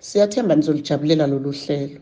Siyathemba nizolijabulela lolu hlelo.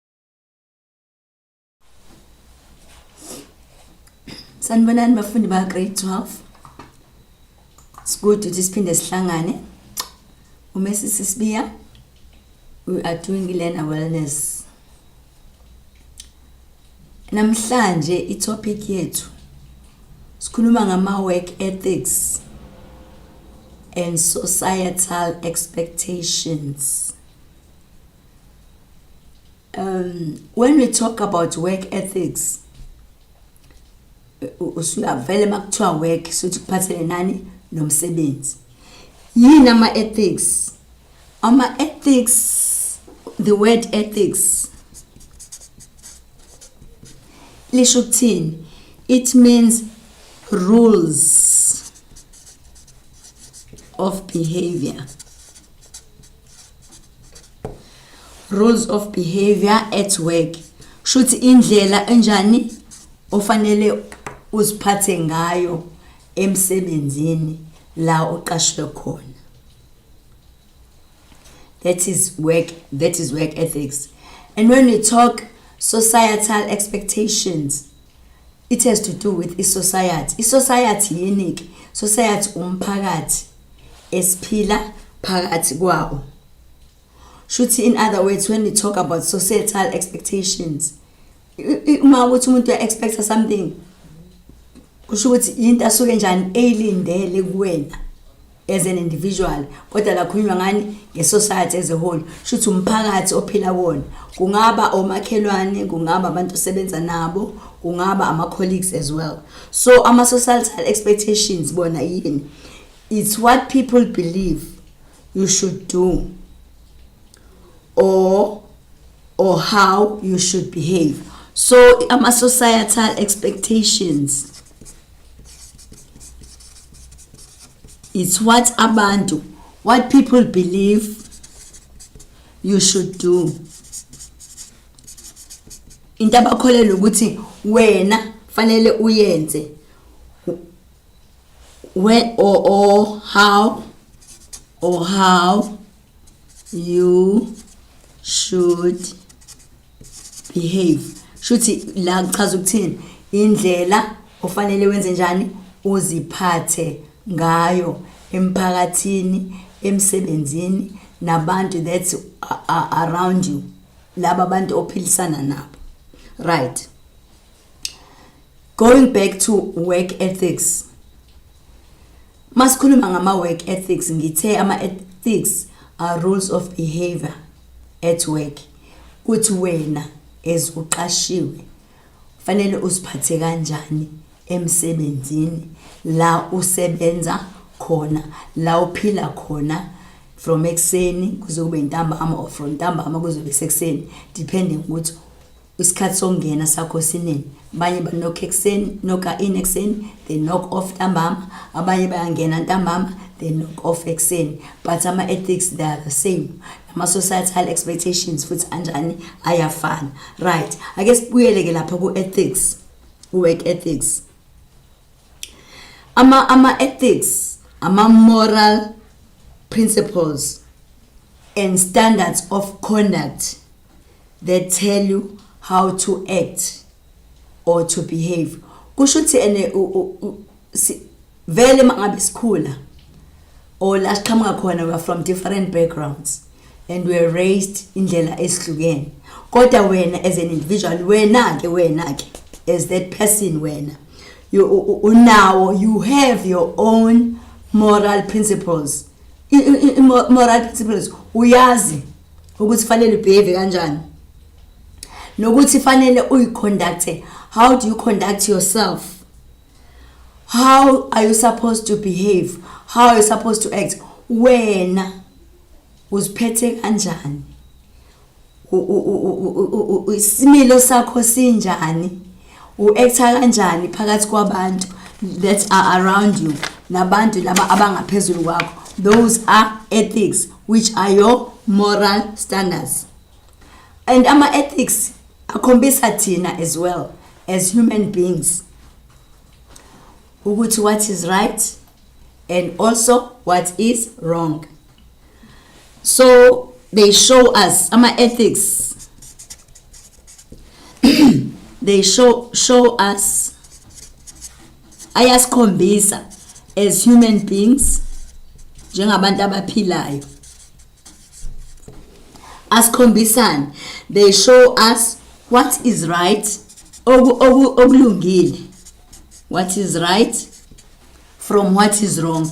Sanibonani bafundi ba grade 12. Sikude ukuthi siphinde sihlangane. Uma sisisibiya we are doing learner wellness. Namhlanje i topic yethu sikhuluma ngama work ethics and societal expectations. um, when we talk about work ethics usuyavele makuthiwa work sothi kuphathele nani nomsebenzi yini ama-ethics ama-ethics the word ethics lisho ukuthini it means rules of behavior rules of behavior at work shuthi indlela enjani ofanele uziphathe ngayo emsebenzini la uqashwe khona that is work that is work ethics and when we talk societal expectations It has to do with i-society. I-society yini-ke? Society umphakathi esiphila phakathi kwawo. Shuthi in other words when we talk about societal expectations uma ukuthi umuntu uya-expecta something kusho ukuthi yinto asuke njani eyilindele kuwena. as an individual kodwa lakhulunywa ngani ngesociety as a whole shuthi umphakathi ophila kuwona kungaba omakhelwane kungaba abantu osebenza nabo kungaba ama-colleagues as well so ama-societal expectations bona yini it's what people believe you should do or or how you should behave so ama-societal expectations It's what abantu, what people believe you should do. Into abakholelwa ukuthi wena fanele uyenze. When or, or how or how you should behave shuthi la kuchaza ukuthini indlela ofanele wenze njani uziphathe ngayo emphakathini emsebenzini nabantu that's around you laba bantu ophilisana nabo right going back to work ethics Masikhuluma ngama work ethics ngithe ama ethics are rules of behavior at work kuthi wena as uqashiwe fanele usiphathe kanjani emsebenzini la usebenza khona la uphila khona from ekuseni kuze kube ntambama or from ntambama kuzobe sekuseni depending ukuthi Isikhathi sokungena sakho siningi. Abanye banokha ekuseni, nokha in ekuseni, they knock off ntambama. Abanye bayangena ntambama, they knock off ekuseni. But ama-ethics they are the same. Nama-societal expectations futhi anjani ayafana. Right, ake sibuyele-ke lapha ku-ethics, work ethics. Ama, ama-ethics, ama-moral principles and standards of conduct. They tell you how to act or to behave. Kusho ukuthi ene vele mangabe sikhula or la siqhamuka khona we are from different backgrounds and we are raised indlela esihlukene kodwa wena as an individual wena ke wena ke as that person wena you unawo you have your own moral principles moral principles uyazi ukuthi fanele ubehave kanjani nokuthi fanele uyiconducte how do you conduct yourself how are you supposed to behave how are you supposed to act wena uziphethe kanjani isimilo sakho sinjani U-actor kanjani phakathi kwabantu that are around you nabantu laba abangaphezulu kwakho those are ethics which are your moral standards and ama-ethics akhombisa thina as well as human beings ukuthi what is right and also what is wrong so they show us ama ethics they show show us ayasikhombisa as human beings njengabantu abaphilayo asikhombisani they show us what is right okulungile what is right from what is wrong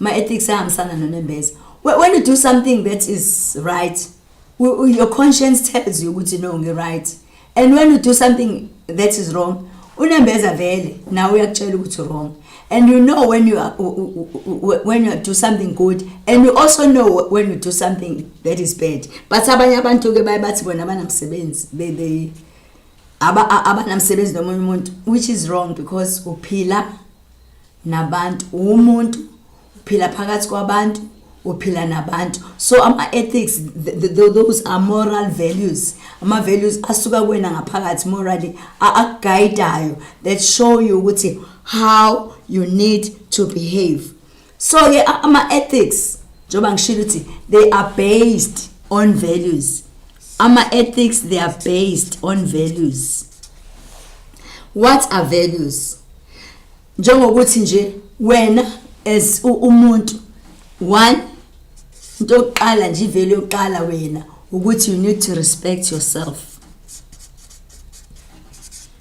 My ethics ahambisana nonembeza. When you do something that is right, your conscience tells you ukuthi no ngi right. And when you do something that is wrong, unembeza vele nawe uyakutshela ukuthi wrong and you know when you are when you do something good and you also know when you do something that is bad but abanye abantu ke baye bathi bona abanamsebenzi they they abanamsebenzi nomunye umuntu which is wrong because uphila nabantu uwumuntu uphila phakathi kwabantu uphila nabantu so ama-ethics those are moral values ama-values asuka kuwena ngaphakathi morally akugayidayo that show you ukuthi how you need to behave so ke ama-ethics njengoba ngishilo ukuthi they are based on values ama-ethics they are based on values what are values njengokuthi nje wena as umuntu one into yokuqala nje ivele yokuqala wena ukuthi you need to respect yourself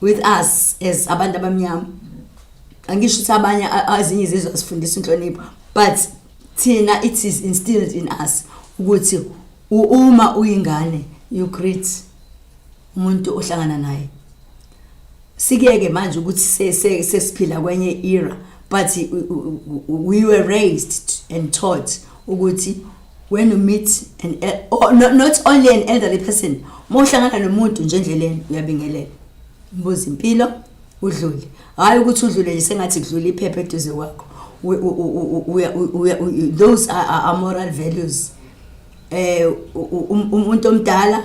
with us as abantu abamnyama angisho ukuthi abanye azinye izizwe asifundisa inhlonipho but thina it is instilled in us ukuthi uma uyingane you greet umuntu ohlangana naye sikeke manje ukuthi sesiphila kwenye era but we were raised and taught ukuthi when you meet an el- or no, not only an elderly person uma uhlangana nomuntu nje endleleni uyabingelela mbuza impilo udlule hhayi ukuthi udlule nje sengathi kudlula iphepha eduze kwakho We- u- u- u- uya- u- uya- u- those are, are, are moral values um umuntu omdala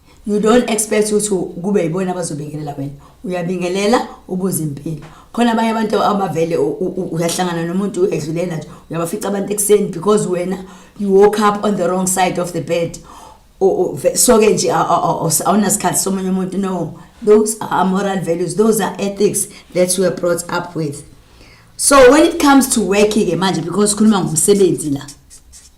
you don't expect ukuthi kube yibona abazobingelela wena uyabingelela ubuze impilo khona abanye abantu abavele uyahlangana nomuntu edlulela nje uyabafica abantu ekuseni because wena you woke up on the wrong side of the bed so-ke nje awunasikhathi somunye umuntu no those are moral values those are ethics that you are brought up with so when it comes to working-ke manje because sikhuluma ngomsebenzi la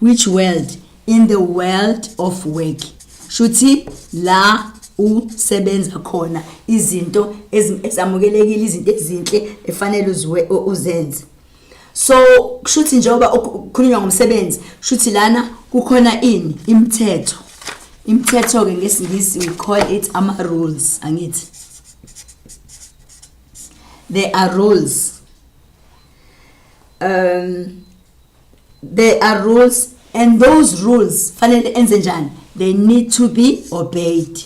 Which world? In the world of work. Shuthi la usebenza khona izinto ezamukelekile izinto ezinhle efanele uziwe uzenze. So kushuthi njengoba kukhulunywa ngomsebenzi shuthi lana kukhona ini imithetho. Imithetho ke ngesingisi we call it ama rules angithi. There are rules. Um there are rules and those rules fanele enze njani they need to be obeyed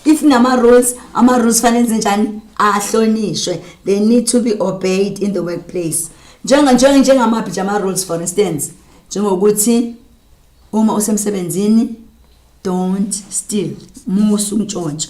if nama rules ama rules fanele enze njani ahlonishwe they need to be obeyed in the workplace njenga njenga njengamaphi nje ama rules for instance njengokuthi uma usemsebenzini don't steal musu ntshontsho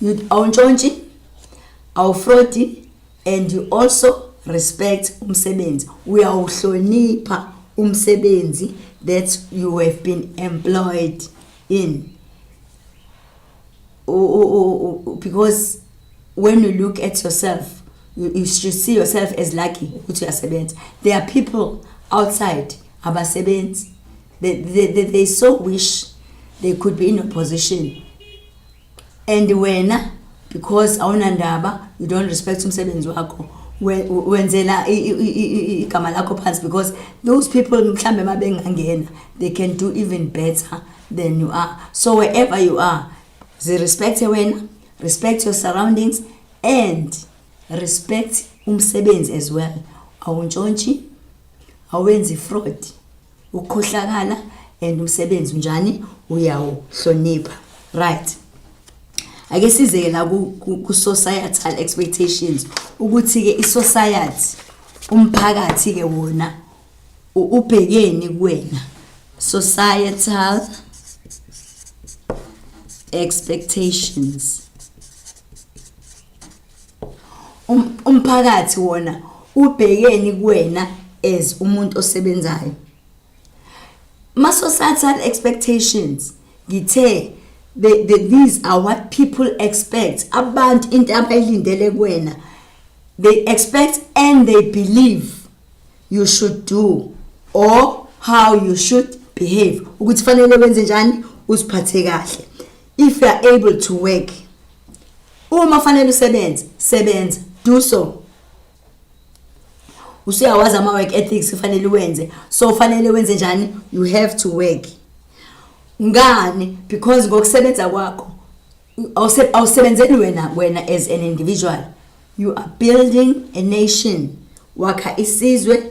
you awuntshontshe awufrodi and you also respect umsebenzi uyawuhlonipha umsebenzi that you have been employed in because when you look at yourself you, you should see yourself as lucky ukuthi uyasebenza there are people outside abasebenzi They, they, they, they so wish they could be in opposition and wena because awunandaba you don't respect umsebenzi wakho we- wenzela i- i- i- i- igama lakho phansi because those people mhlawumbe uma bengangena they can do even better than you are so wherever you are zirespecte wena respect your surroundings and respect umsebenzi as well awuntshontshe awenzi fraud ukukhohlakala and umsebenzi unjani uyawuhlonipha right ake sizeke la ku societal expectations ukuthi ke i society umphakathi ke wona ubhekeni kuwena societal expectations Um, umphakathi wona ubhekeni kuwena as umuntu osebenzayo ma societal expectations ngithe the, the, these are what people expect abantu into abayilindele kuwena they expect and they believe you should do or how you should behave ukuthi fanele wenze njani usiphathe kahle If you are able to work uma fanele usebenze sebenza do so usuyawazi ama work ethics ufanele wenze so ufanele wenze njani you have to work ngani because ngokusebenza kwakho awusebenzeli wena wena as an individual you are building a nation wakha isizwe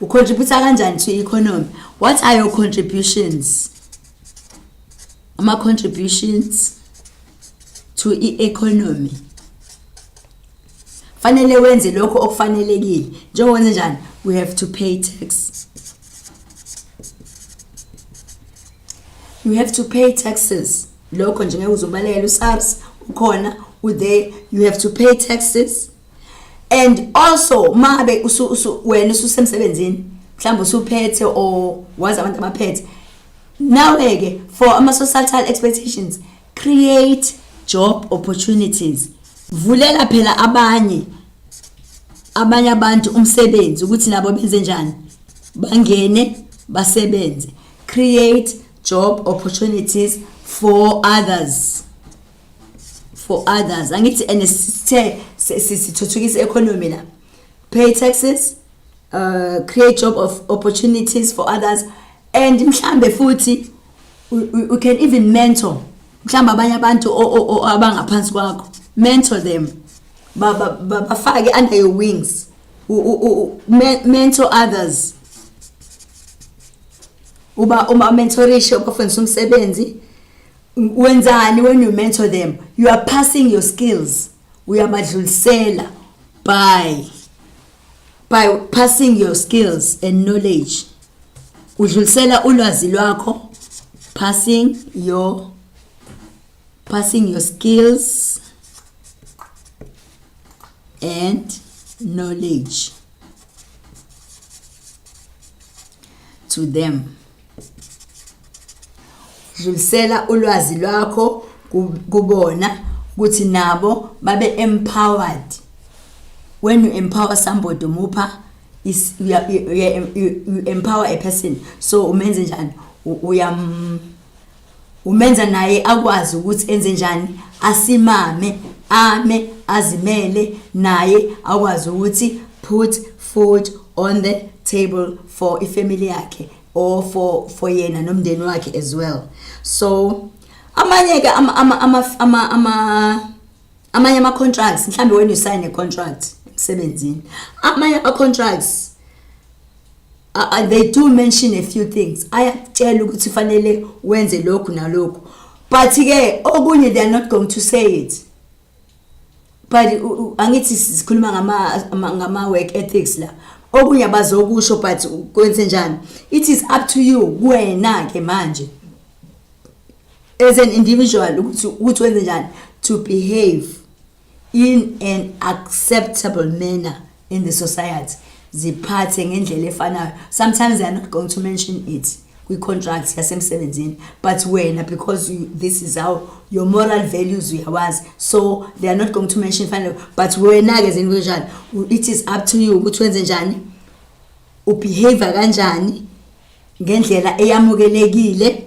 ucontribute kanjani to economy what are your contributions ama contributions to i-economy fanele wenze lokho okufanelekile njengokwenze njani we have to pay tax you have to pay taxes lokho nje ngeke uzobalekela usars ukhona uthe you have to pay taxes and also mabe wena ususemsebenzini mhlawumbe usuphethe or wazi abantu abaphethe nawe-ke for ama-societal expectations create job opportunities vulela phela abanye abanye abantu umsebenzi ukuthi nabo benze njani bangene basebenze create job opportunities for others for others angithi and sithe sithuthukisa economy la pay taxes uh, create job of opportunities for others and mhlambe futhi we can even mentor mhlawumbe abanye abantu abangaphansi kwakho mentor them bafake under your wings mentor others uba uma mentorishe ubafundisa umsebenzi wenzani when you mentor them you are passing your skills uyamadlulisela by by passing your skills and knowledge udlulisela ulwazi lwakho passing your passing your skills and knowledge to them Dlulisela ulwazi lwakho kubona ukuthi nabo babe empowered. When you empower somebody umupha is you, you, you, you empower a person so umenze njani uyam umenza naye akwazi ukuthi enze njani asimame ame azimele naye akwazi ukuthi put food on the table for ifamily yakhe or for for yena nomndeni wakhe as well so amanye ke ama ama ama ama amanye ama contracts mhlambe wena usayine contract emsebenzini amanye ama contracts Uh, they do mention a few things ayakutshela ukuthi fanele wenze lokhu nalokhu but ke okunye they are not going to say it but angithi sikhuluma ngama ngama work ethics la okunye abazokusho but kwenze njani it is up to you kuwena ke manje as an individual ukuthi ukuthi wenze njani to behave in an acceptable manner in the society ziphathe ngendlela efanayo sometimes they are not going to mention it kwi-contract yasemsebenzini but wena because you, this is how your moral values uyawazi so they are not going to mention fanele but wena-ke zini kunjani it is up to you ukuthi wenze njani ubehavior kanjani ngendlela eyamukelekile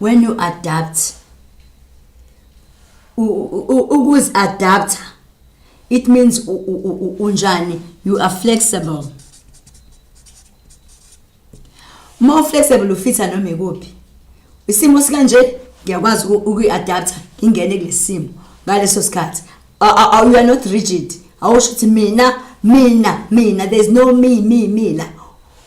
when you adapt ukuzi adapter it means unjani you are flexible uma uflexible ufitha noma ikuphi isimo sikanje ngiyakwazi ukuyi-adaptha ngingene kulesimo ngaleso sikhathi you are not rigid awusho ukuthi mina mina mina there's no me me me la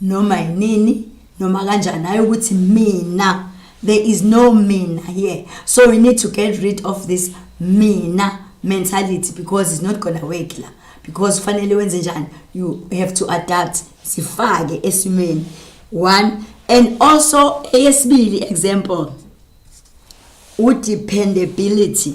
noma yinini noma kanjani hayi ukuthi mina there is no mina here so we need to get rid of this mina mentality because it's not gonna work la because fanele wenze njani you have to adapt sifake esimeni one and also eyesibili example udependability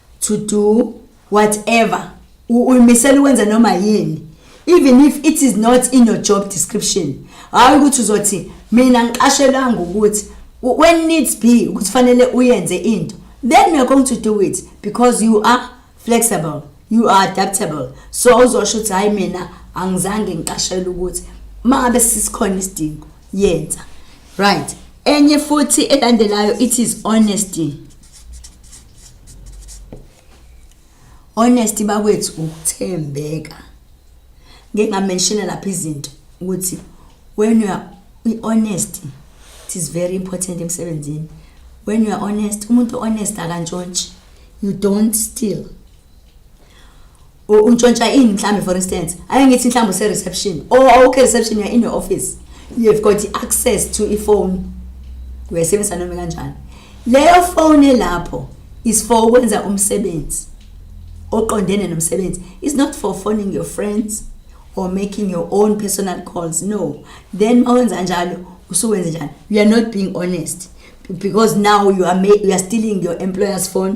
to do whatever uyimisela ukwenza noma yini even if it is not in your job description hayi ukuthi uzothi mina ngiqashelanga ukuthi when needs be ukuthi fanele uyenze into then you're going to do it because you are flexible you are adaptable so uzosho ukuthi hayi mina angizange ngiqashele ukuthi mangabe sisikhona isidingo yenza right enye futhi elandelayo it is honesty Honest bakwethu ukuthembeka. Ngeke ngamenshina lapha izinto ukuthi when you are honest it is very important emsebenzini. When you are honest, umuntu honest akantshontshi. You don't steal. untshontsha ini mhlawumbe for instance ake ngithi mhlawumbe use-reception or awukho reception you're in your office you have got i-access to ifoni uyayisebenzisa noma kanjani leyo foni elapho is for ukwenza umsebenzi oqondene nomsebenzi is not for phoning your friends or making your own personal calls no then mawenza njalo usuwenze njani you are not being honest because now you are, you are stealing your employer's phone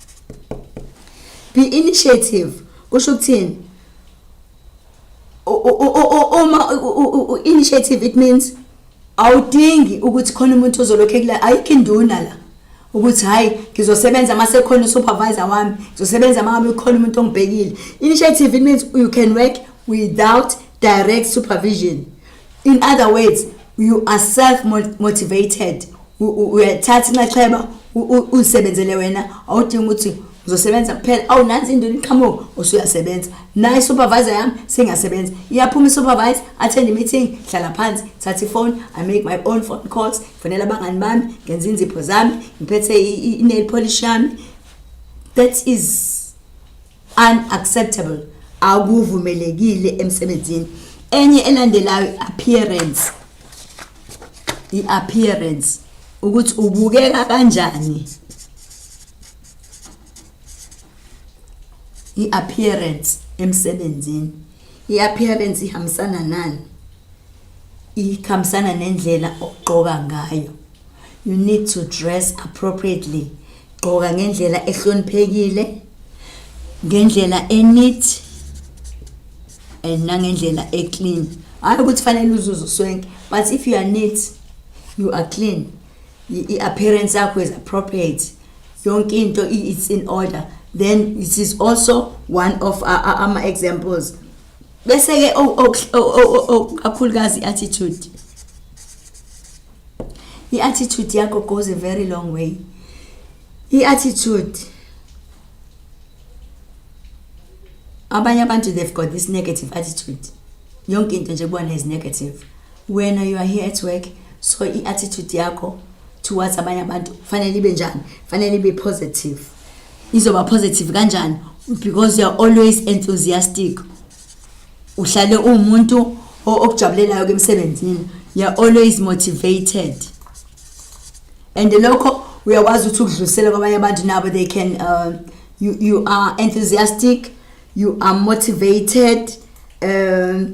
be initiative kusho ukuthini uma initiative it means awudingi ukuthi khona umuntu ozolokhu ekula ayikho induna la ukuthi hayi ngizosebenza uma sekhona usupervisor wami ngizosebenza uma ngabe khona umuntu ongibhekile initiative it means you can work without direct supervision In other words, you are self motivated. Uyathatha inxaxheba uzisebenzele wena awudingi ukuthi uzosebenza kuphela awu nansi into iqhamuka usuyasebenza naye isupervisor yami singasebenza iyaphuma isupervisor attend i-meeting hlala phansi thatha ifoni i make my own phone calls fonela abangani bami ngenza inzipho zami ngiphethe i-nail polish yami that is unacceptable akuvumelekile emsebenzini enye elandelayo appearance i-appearance ukuthi ubukeka kanjani i-appearance emsebenzini i-appearance ihambisana nani ihambisana nendlela ogqoka ngayo you need to dress appropriately gqoka ngendlela ehloniphekile ngendlela eneat and nangendlela eclean hayi ukuthi fanele uzuze uswenke but if you are neat you are clean i-appearance yakho is appropriate yonke into it's in order then it is also one of ama-examples bese-ke kakhulukazi i-attitude I-attitude yakho goes a very long way. I-attitude abanye abantu they've got this negative attitude yonke into nje kubona is negative wena you are here at work so i-attitude yakho towards abanye abantu fanele ibe njani fanele ibe positive izoba positive kanjani because you're always enthusiastic uhlale uwumuntu okujabulelayo ke emsebenzini you're always motivated and lokho uyakwazi ukuthi ukudlulisela kwabanye abantu nabo they can uh, you, you are enthusiastic you are motivated um,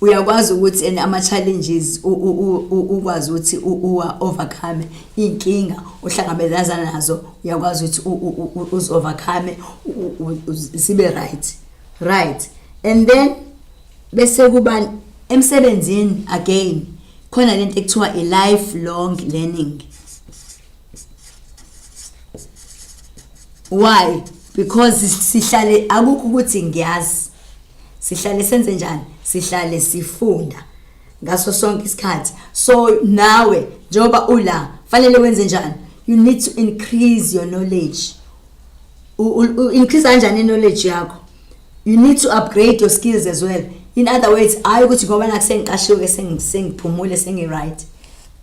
uyakwazi ukuthi and ama challenges ukwazi ukuthi uwa overcome inkinga ohlangabezana nazo uyakwazi ukuthi uz overcome sibe right right and then bese kuba emsebenzini again khona lento ekuthiwa i lifelong learning why because sihlale akukho ukuthi ngiyazi sihlale senze njani sihlale sifunda ngaso sonke isikhathi so nawe njengoba ula fanele wenze njani you need to increase your knowledge u increase kanjani knowledge yakho you need to upgrade your skills as well in other words hayi ukuthi ngoba nakusengiqashiwe sengiphumule sengi-right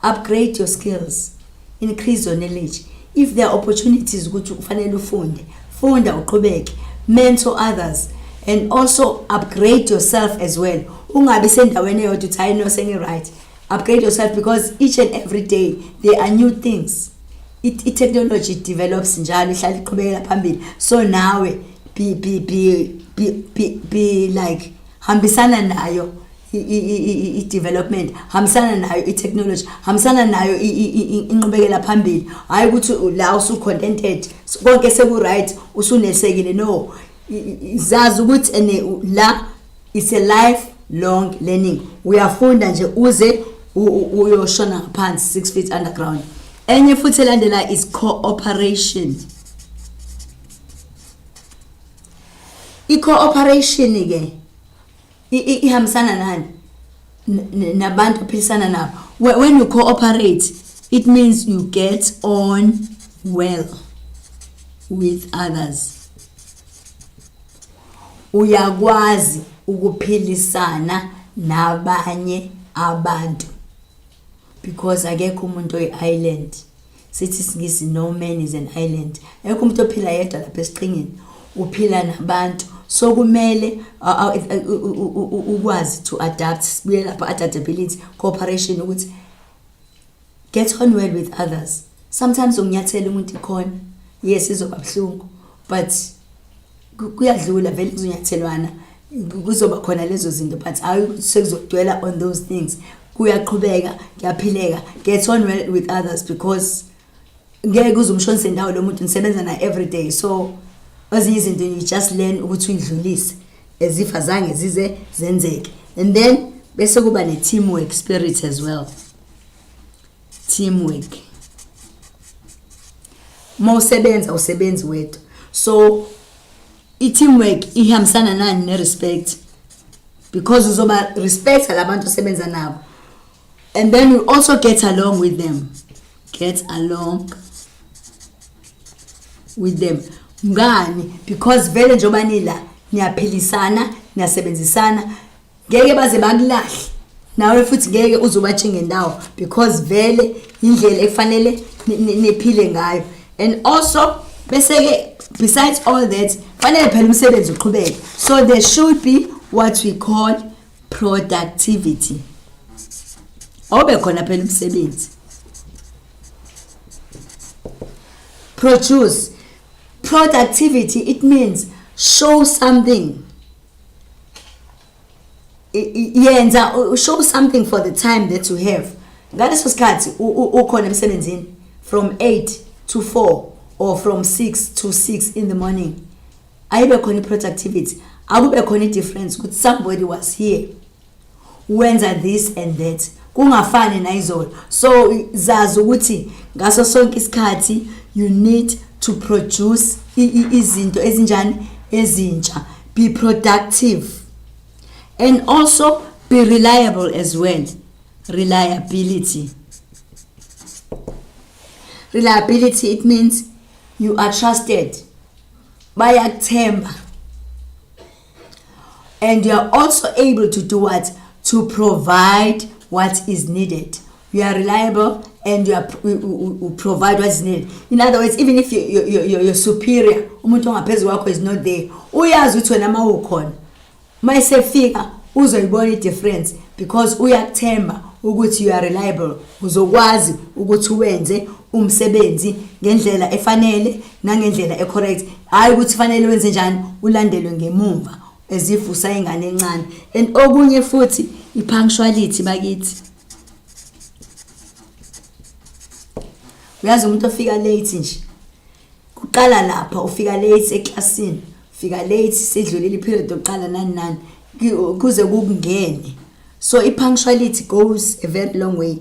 Upgrade your skills, increase your knowledge. If there are opportunities ukuthi ufanele ufunde, funda uqhubeke, mentor others and also upgrade yourself as well. Ungabi sendaweni eyodwa uthi hayi no sengi right. Upgrade yourself because each and every day there are new things. It, it technology develops njalo ihlala iqhubekela phambili. So nawe be be be be be, be like hambisana nayo i-development hambisana nayo i-technology hambisana nayo inqubekela phambili hhayi ukuthi la usu-contented konke seku-right usunesekile no zazi ukuthi ene la is a life long learning uyafunda nje uze uyoshona ngaphansi six feet underground enye futhi elandela is cooperation I-cooperation ke ihambisana nani nabantu ophilisana nabo when you cooperate it means you get on well with others uyakwazi ukuphilisana nabanye abantu because akekho umuntu oyi-island sithi isingisi no man is an island ekho umuntu ophila yedwa lapha esiqhingini uphila nabantu so kumele ukwazi to adapt sibuye lapha adaptability cooperation ukuthi get on well with others sometimes unginyathela umuntu ikhona yes izoba buhlungu but kuyadlula vele kuzonyathelwana kuzoba khona lezo zinto but hayi sekuzogcwela on those things kuyaqhubeka kuyaphileka get on well with others because ngeke uze umshonise ndawo lo muntu nisebenza naye every day so ezinye izinto you just learn ukuthi uyidlulise as if azange zize zenzeke and then bese kuba ne-teamwork spirit as well teamwork uma usebenza usebenzi wedwa so i-teamwork ihambisana nani ne-respect because uzoba respecta la bantu osebenza nabo and then you also get along with them get along with them ngani because vele njengoba nila niyaphilisana niyasebenzisana ngeke baze bakulahle nawe futhi ngeke uzubatshinge ndawo because vele indlela efanele niphile ngayo and also bese ke besides all that fanele phela umsebenzi uqhubeke so there should be what we call productivity obe khona phela umsebenzi produce productivity it means show something yenza show something for the time that you have ngaleso sikhathi ukhona emsebenzini from 8 to 4 or from 6 to 6 in the morning ayibe khona i-productivity akube khona i-difference ukuthi somebody was here wenza this and that kungafani nayizolo so zazi ukuthi ngaso sonke isikhathi you need to produce izinto ezinjani ezintsha be productive and also be reliable as well reliability reliability it means you are trusted bayakuthemba and you are also able to do what to provide what is needed you are reliable and you are you, you, you provide what is needed in other words even if you, you, you, you, your superior umuntu ongaphezulu kwakho is not there uyazi ukuthi wena mawukhona mayisefika uzoyibona idifference because uyakuthemba ukuthi you are reliable uzokwazi ukuthi wenze umsebenzi ngendlela efanele nangendlela ecorrect hhayi ukuthi fanele wenze njani ulandelwe ngemumva as if usayingane encane and okunye futhi i-punctuality bakithi uyazi umuntu ofika late nje kuqala lapha ufika late eklasini ufika late sidlulile iperiod yokuqala nani nani kuze kukungene so i-punctuality goes a very long way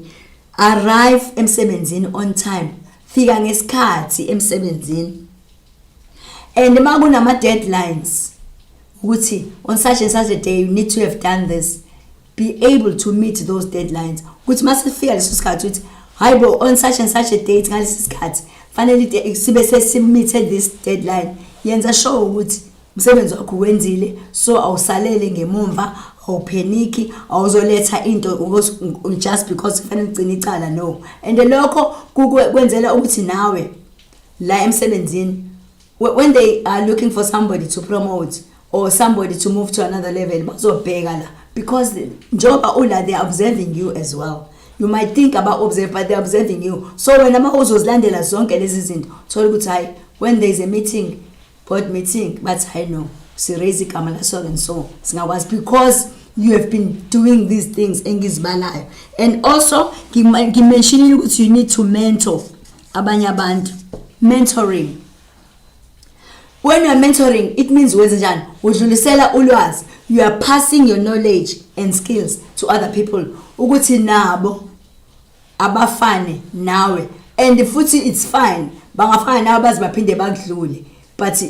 arrive emsebenzini on time fika ngesikhathi emsebenzini and uma kunama-deadlines ukuthi on such and such a day you need to have done this be able to meet those deadlines ukuthi uma sifika leso sikhathi ukuthi hayi bo on such and such a date ngalesi sikhathi fanele sibe sesimithe this deadline yenza sure ukuthi Umsebenzi wakho wenzile so awusalele ngemumva awupheniki awuzoletha into because just because kufanele ugcine icala no and lokho kukwe- kwenzela ukuthi nawe la emsebenzini whe- when they are looking for somebody to promote or somebody to move to another level bazobheka la because njengoba ula they are observing you as well you might think about observe but they're observing you so wena uma uzozilandela zonke lezi zinto thola ukuthi hhayi when there is a meeting board meeting bathi hayi no siraise igama la so and so singakwazi because you have been doing these things engizibalayo and also ngimentionile ukuthi you need to mentor abanye abantu mentoring when you are mentoring it means wenze njani udlulisela ulwazi you are passing your knowledge and skills to other people ukuthi nabo abafane nawe and futhi it's fine bangafana nawe baze baphinde bakudlule but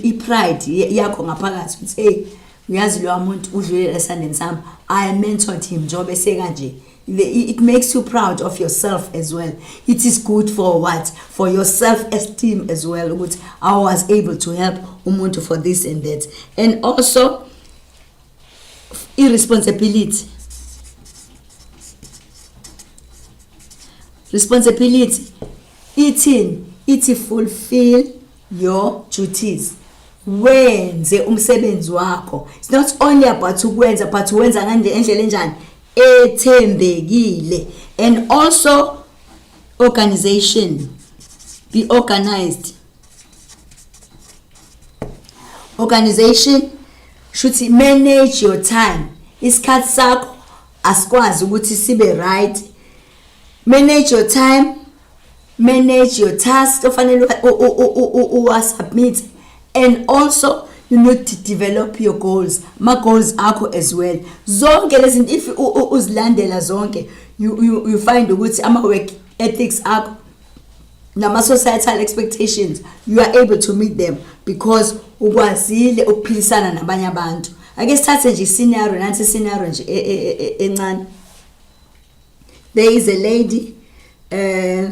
i-pride yakho ngaphakathi ukuthi eyi uyazi lowa muntu udlulela esandeni sami i mentored him njengoba esekanje it makes you proud of yourself as well it is good for what for your self esteem as well ukuthi i was able to help umuntu for this and that and also i-responsibility responsibility ithini ithi fulfill your duties wenze umsebenzi wakho it's not only about ukwenza but wenza ngande endlela enjani ethembekile and also organization be organized organization shuthi manage your time isikhathi sakho asikwazi ukuthi sibe right manage your time manage your task ofanele uwasubmit and also you need to develop your goals ma goals akho as well zonke lezinto if uzilandela zonke you, you, you find ukuthi ama work ethics akho nama-societal expectations you are able to meet them because ukwazile ukuphilisana nabanye abantu ake sithathe nje iscenario nansi iscenario nje e, e, e, encane there is a lady eh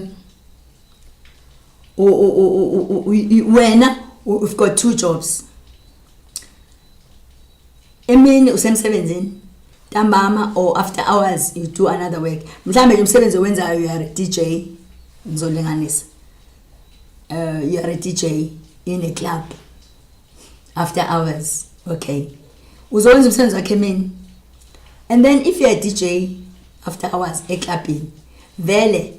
wena you've got two jobs emini usemsebenzini ntambama or after hours you do another work mhlawumbe nje umsebenzi owenzayo you are a dj ngizolinganisa uh, you are a dj in a club after hours okay uzowenza umsebenzi wakhe emini and then if you're a dj after hours eclubhini vele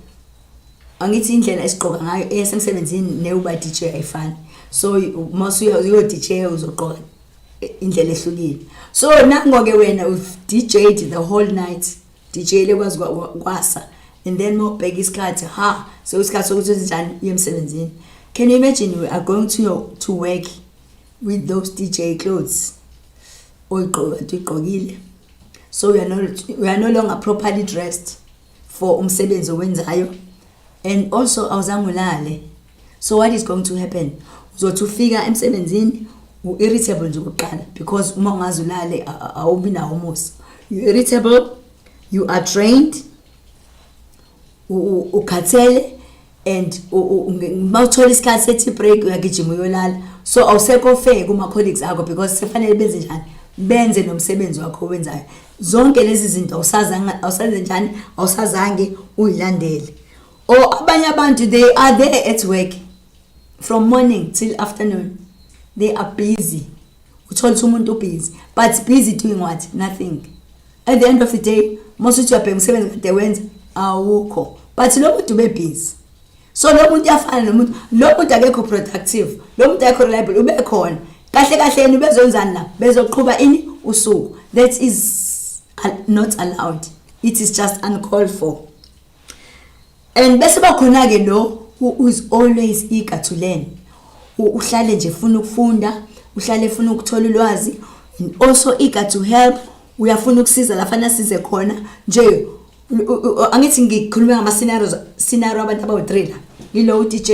angithi indlela esigqoka ngayo esemsebenzini newuba dj ayifani so uma usuya uyo dj uzogqoka indlela ehlukile so nangoke wena with DJ the whole night DJ lekwazi kwasa and then mawubheka isikhathi ha so isikhathi sokuthi uzenjani yemsebenzini can you imagine we are going to your, to work with those DJ clothes oyigqoka igqokile so we are no we are no longer properly dressed for umsebenzi owenzayo and also awuzange ulale so what is going to happen uzothi ufika emsebenzini u-irritable nje kuqala because uma ungazi ulale awubi nawo umusa you irritable you are trained ukhathele and uma uthola isikhathi sethi break uyagijima uyolala so awusekho fair kuma-colleagues akho because sefanele benze njani benze nomsebenzi wakho owenzayo zonke lezi zinto awusazenjani awusazange uyilandele or abanye abantu they are there at work from morning till afternoon they are busy uthole ukuthi umuntu ubusy but busy doing what nothing at the end of the day mose uthi uyabheka umsebenzi kade wenza awukho but lo muntu ubebhizi so lo muntu uyafana nomuntu lo muntu akekho productive lo muntu akekho reliable ube khona kahle kahle yena ubezonzani la bezoqhuba ini usuku that is not allowed it is just uncalled for and bese bakhona ke lo who is always eager to learn uhlale nje funa ukufunda uhlale funa ukuthola ulwazi and also eager to help uyafuna ukusiza la fana size khona nje angithi ngikhuluma ngama scenarios scenario abantu abawu-3 la yilo u-DJ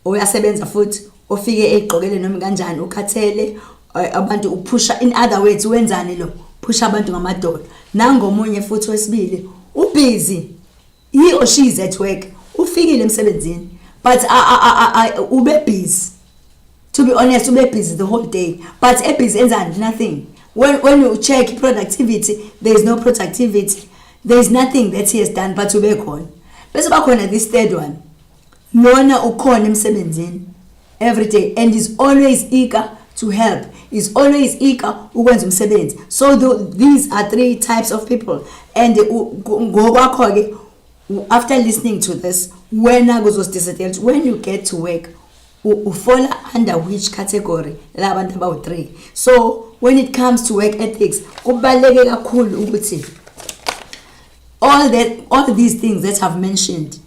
oyasebenza futhi ofike egqokele noma kanjani ukhathele eh, abantu uphusha in other words wenzani lo phusha abantu ngamadolo nangomunye futhi wesibili ubhizi he or she is at work ufikile emsebenzini but ube busy to be honest ube busy the whole day but e busy enzani nothing when when you check productivity there is no productivity there is nothing that he has done but ube khona bese bakhona this third one Lona ukhona emsebenzini every day and is always eager to help is always eager ukwenza umsebenzi so the, these are three types of people and ngokwakho ke after listening to this wena kuzosidecidela ukuthi when you get to work ufola under which category la bantu abawu-three so when it comes to work ethics kubaluleke kakhulu ukuthi all, that, all these things that i've mentioned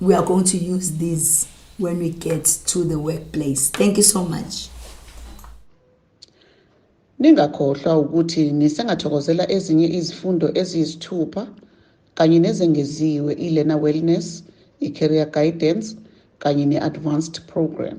we are going to use these when we get to the workplace. Thank you so much. Ningakhohlwa ukuthi nisengathokozela ezinye izifundo eziyisithupha kanye nezengeziwe i-Learner Wellness, i-Career Guidance kanye ne-Advanced Program.